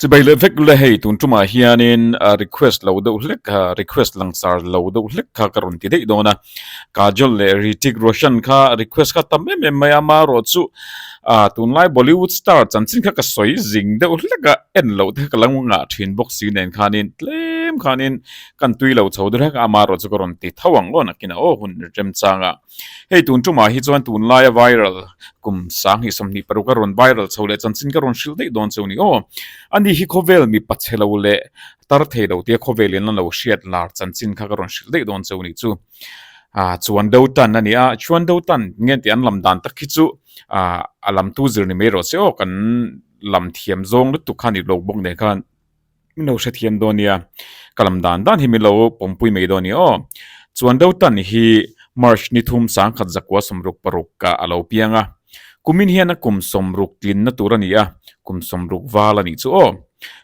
Chu bei leh vek la hei tun tumah hianin request lo deuh hlek kha request langsar lo deuh hlek kha ka rawn ti daih dawn a, Kajol leh Ritik Roshan kha request kha tam em em mai a mah rawh chu ah tunlai Bollywood star chanchin kha ka sawi zing deuh hlek a, en loh te kha ka lo ngah thin bawk si nen khanin tlem khanin kan tui lo chho der hlek a, mah rawh chu ka rawn ti tho ang law nakin aw hun remchang ah Hei tun ṭumah hi chuan tun laia viral kum sang hi sawmhnih paruk a rawn viral chho leh chanchin ka rawn hrilh daih dawn cheu ni aw. Ani hi khawvel mipa che lo leh tar thei lo tia khawvelin an lo hriat lar chanchin kha ka rawn hrilh daih dawn cheu ni chu ah chuan do tan a ni a. Chuan do tan nge tih an lam dan tak khi chu ah a lam tu zir ni mai rawh se awk an lam thiam zawng lutuk kha a ni lo bawk nen kha. Mino hre thiam dawn nia, ka lam dan dan hi min lo pawmpui mai dawn nia aw. Chuan deuh tan hi March ni thum sangkhat zakua sawmruk paruk ah a lo piang a, kumin hian a kum sawmruk tlinna tur a ni a, kum sawmruk val a nih chu aw.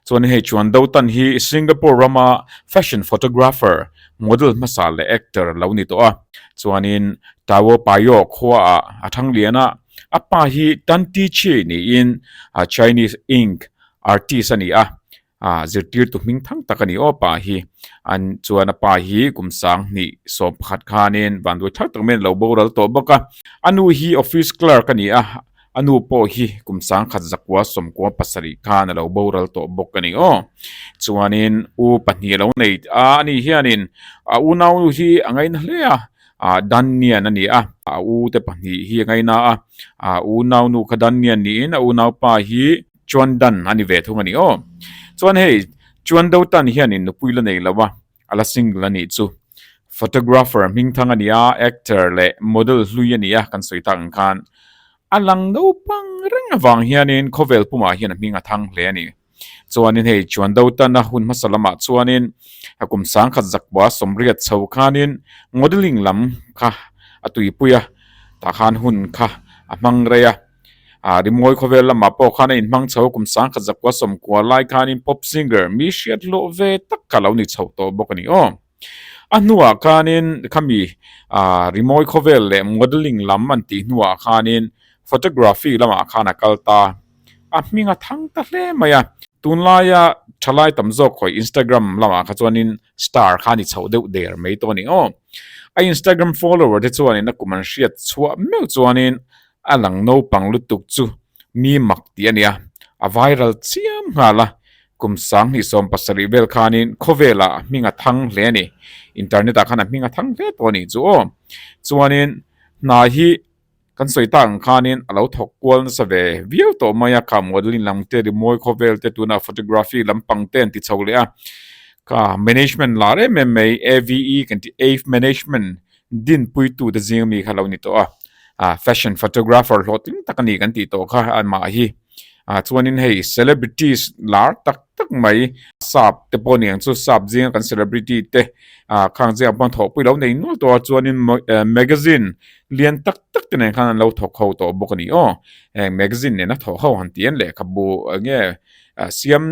Chuan hei chuan deuh tan hi Singapore rama fashion photographer, model hmasa leh actor lo ni tawh a. Chuanin Tao Payoh khua ah a thang lian a, a pa hi Tan Ti Chi niin Chinese Ink Artist a ni a, zirtirtu hming thang tak a ni aw pa hi. An chuan a pa hi kum sang hnih sawm pakhat khanin vanduai thar tak maiin a lo boral tawh bawk a. A nu hi office clerk a ni a, a nu pawh hi kum sang khat zakua sawmkua pasarih khan a lo boral tawh bawk a ni aw. Chuanin u pahnih a lo nei a, a nih hianin a u nau hi a ngaina hle a, Dannian a ni a, a u te pahnih hi a ngaina a, a u nau nu kha Dannian niin a u nau pa hi, Chuan Dan a ni ve thung a ni aw. Chuan hei Chuan Do Tan hianin nupui la nei lo a, a la single a nih chu. Photographer hming thang a ni a, actor leh model hlui a ni a kan sawi tak ang khan. A lang naupang reng avang hianin khawvel pumah hian a hming a thang hle a ni. Chuanin hei Chuan Do Tan a hun hmasa lamah chuanin a kum sangkhat zakua sawmriat chho khanin modelling lam kha a tuipui a, tah khan hun kha a hmang rei a. A rimngawi khawvel lamah pawh khan a inhmang chho kum sangkhat zakua sawm kua lai khanin pop singer mi hriat hlawh ve tak kha lo ni chhoh tawh bawk a ni aw. A hnuah khanin khami rimawi khawvel leh modelling lam an tih hnuah khanin photography lamah khan a kal ta. A hming a thang ta hle mai a. Tunlaia thalai tam zawk khawih Instagram lamah kha chuanin Star khan i chho deuh der mai tawh a ni aw. A Instagram follower te chuanin a kum an hriat chhuah meuh chuanin a lang naupang lutuk chu mi mak tih a nia a viral chiam nghal a. Kum sang hnih sawm pasarih vel khanin khawvelah a hming a thang hle a ni. Internet-ah khan a hming a thang hle tawh a nih chu aw. Chuanin hna hi. Kan sawi ta ang khanin a lo thawk kual nasa ve viau tawh mai a, kha modelling lam te, rimawi khawvel te tunah photography lampang te an ti chho leh a, kha management lar em em mai AVE kan tih Ave Management din pui tu te zing ami kha a lo ni tawh a, fashion photographer hlawhtling tak a ni kan tih tawh kha amah hi. ah chuanin hei celebrities lar tak tak mai sap te pawh aniang chu sap zinga kan celebrity te ah khang chiang pawh an thawh pawh i lo nei nual tawh a chuanin magazine lian tak tak te nen khan an lo thawk ho tawh bawk a ni aw heng magazine nena thawh ho han ti en lehkhabu enge siam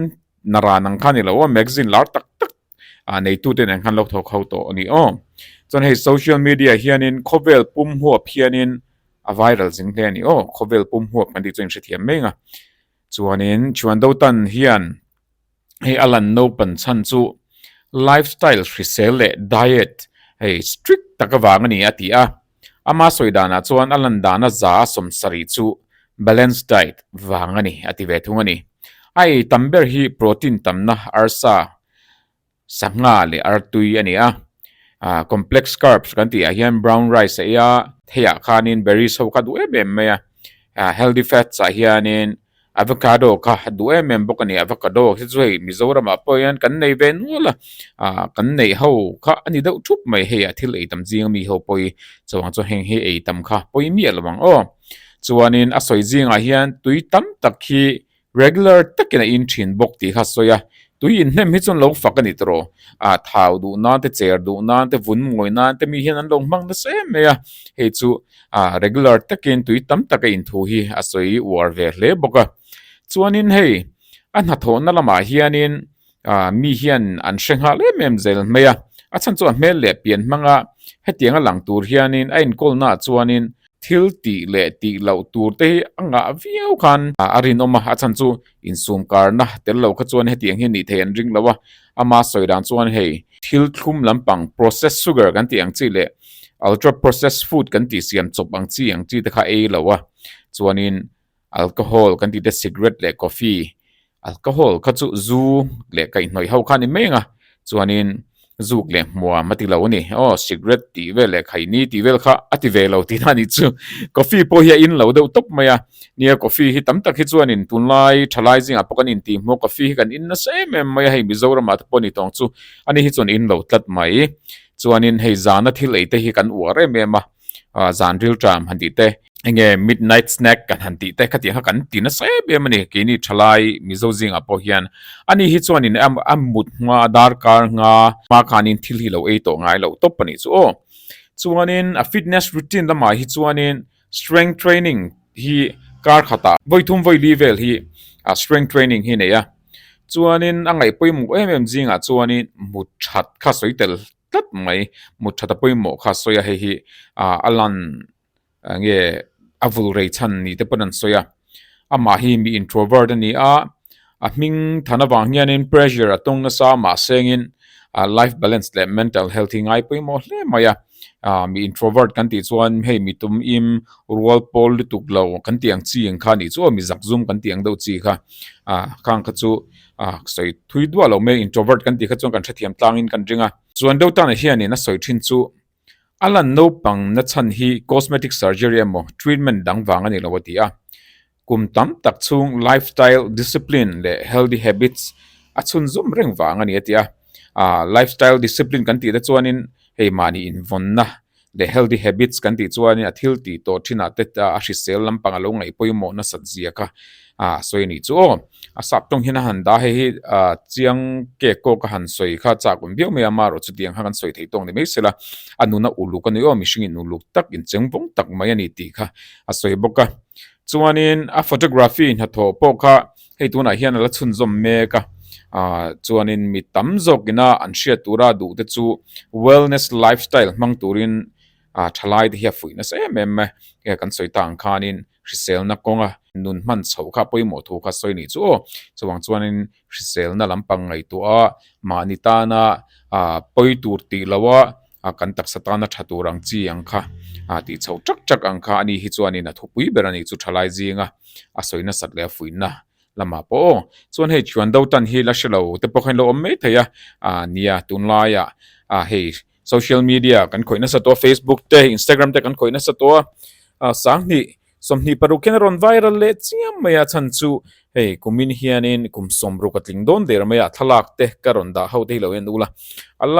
na ran ang khan i lo a magazine lar tak tak-- a neitu ten an hmanlo tho kho tawh ani aw chuan hei social media hianin khawvel pum huap hianin a viral zing hle ani aw khawvel pum huap kan tih chu a inhrethiam mai anga chuanin thian do tan hian hei a lan no pan chhan chu lifestyle hrisel leh diet hei strict tak avang ani a ti a. Ama sawi danah chuan a lan dana za a sawm sarih chu Balanced Diet vang a ni a ti ve thung a ni. A ei tam ber hi protein tamna, arsa, sangha leh artui a ni a. Complex carbs kan tihah hian brown rice a ei a, theiah khanin berries ho kha duh em em mai a. Healthy fats ah hianin Avocado kha a duh em em bawk a ni avocado hi chu hei mizoram ah pawh hian kan nei ve nual a ah kan neih ho kha a ni deuh thup mai hei ah thil ei tam zing ami ho pawh hi chuvang chuan heng hi ei tam kha pawi miah lo ang aw chuan in a sawi zing ah hian tui tam tak hi regular tak in a in thin bawk tih kha a sawi a tui in hnem hi chu an lo fak a ni tawh rawh ah thau duh nan te cher duh nan te vun ngawi nan te mi hian an lo hmang nasa em mai a hei chu a regular takin tui tam taka in thu hi a sawi uar ve hle bawk a chuanin hei a hnathawhna lamah hianin ah mi hian an hre nghal em em zel mai a a chhan chu a hmel leh pian hmanga hetianga lang tur hianin a inkawlna ah chuanin thil tih leh tih loh tur te hi a ngah viau khan a rinawm a a chhan chu Insumkarna, tel lo kha chuan hetiang hi nih theih an ring lo a, ama sawi dan chuan hei, thil thlum lampang processed sugar kan tih ang chi leh ultra processed food kan tih siam chawp ang chi ang chi te kha ei lo a, chuanin alcohol kan tihte cigarette leh coffee, alcohol kha chu zu leh kaihhnawih ho kha a ni mai ang a, chuanin zuk leh hmuam a ti lo a ni aw cigarette tih vel leh khaini tih vel kha a ti ve lo tih a ni chu coffee pawh hi a in lo deuh tawp mai a nia coffee hi tam tak hi chuan in tun lai tha lai zingah pawh kan intih hmu a coffee hi kan in nasa em em mai a hei Mizoramah te pawh a ni tawng chu a ni hi chuan in lo tlat mai chuanin hei zana thil ei te hi kan uar em em a. ah zan rilṭa an han tih te, eng nge midnight snack kan han tih te khatiang kha kan ti nasa êm êm a ni. Keini ṭhalai Mizo zingah pawh hian a ni hi chuanin a mut hma, a dârkâr hma, hma khânin thil hi lo ei tawh ngai loh tawp a nih chu aw. Chuanin a fitness routine lamah hi chuanin strength training hi kâr khatah vawi thum vawi li vêl hi ah strength training hi a nei a, chuanin a ngaih pawimawh êm êm zingah chuanin mut ṭhat kha sawi tel. tlat mai mut that a pawimawh kha sawi a hei hi ah a lan ah nge a vul rei chhan ni te pawn an sawi a amah hi mi introvert a ni a a hming than avang hianin pressure a tawng nasa mahse ngin ah life balance leh mental health hi ngai pawimawh hle mai a ah mi introvert kan tih chuan hei mi tum im rual pawl lutuk lo kan tih ang chi ang kha a nih chu aw mi zak zum kan tih ang deuh chi kha ah khang kha chu. Aaa ka sawi thui duah loh mai introvert kan tih kha chuan kan hrethiam tlangin kan ring a, chuan deuh tanah hianin a sawi thin chu a lan naupang na chhan hi cosmetic surgery emaw treatment dang vang a ni lo a ti a, kum tam tak chhung lifestyle discipline leh healthy habits a chhun zawm reng vang a ni a ti a. ah life style discipline kan tih te chuanin hei mahni invawnna leh healthy habits kan tih chuan a thil tih tawh thinah te ta a hrisel lampang a lo ngaihpawimawh nasat ziak a ah sawi anih chu aw a sap tawng hian a han dah hei hi ah chiang cake pawh ka han sawi kha chak awm viau mai a amarawh chutiang kha kan sawi thei tawk ni mai sela a nuna uluk a ni aw mihringin uluk tak incheng vawng tak mai a ni tih kha a sawi bawk a chuanin a photography hnathawh pawh kha. Hei tunah hian a la chhunzawm mek a, chuanin mi tam zawk ina an hriat tura duh te chu wellness lifestyle hmang turin thalaite hi a fuih nasa em em e, hei kan sawi ta ang khanin hriselna kawnga nun hman chhoh kha pawimawh thu kha sawi ni chu aw, chuvang chuanin hriselna lampang ngaihtuaha mahni tana pawi tur tih loha a kan taksa tana tha tur ang chi ang kha a tih chho tak tak ang kha ani hi chuan in a thupui ber ani chu thalai zing a a sawi nasat leh a fuih na lamah pawh aw chuan hei thian do tan hi la hre lo te pawh khan lo awm mai thei a a nia tun lai ah a hei social media kan khawih nasa tawh a facebook te instagram te kan khawih nasa tawh a a sanghnih sawmhnih paruk hian a rawn viral leh chiam mai a chhan chu hei kum in hian in kum sawm ruk a tling dawn der mai a thlalak te ka rawn dah ho te hi lo en ula a la--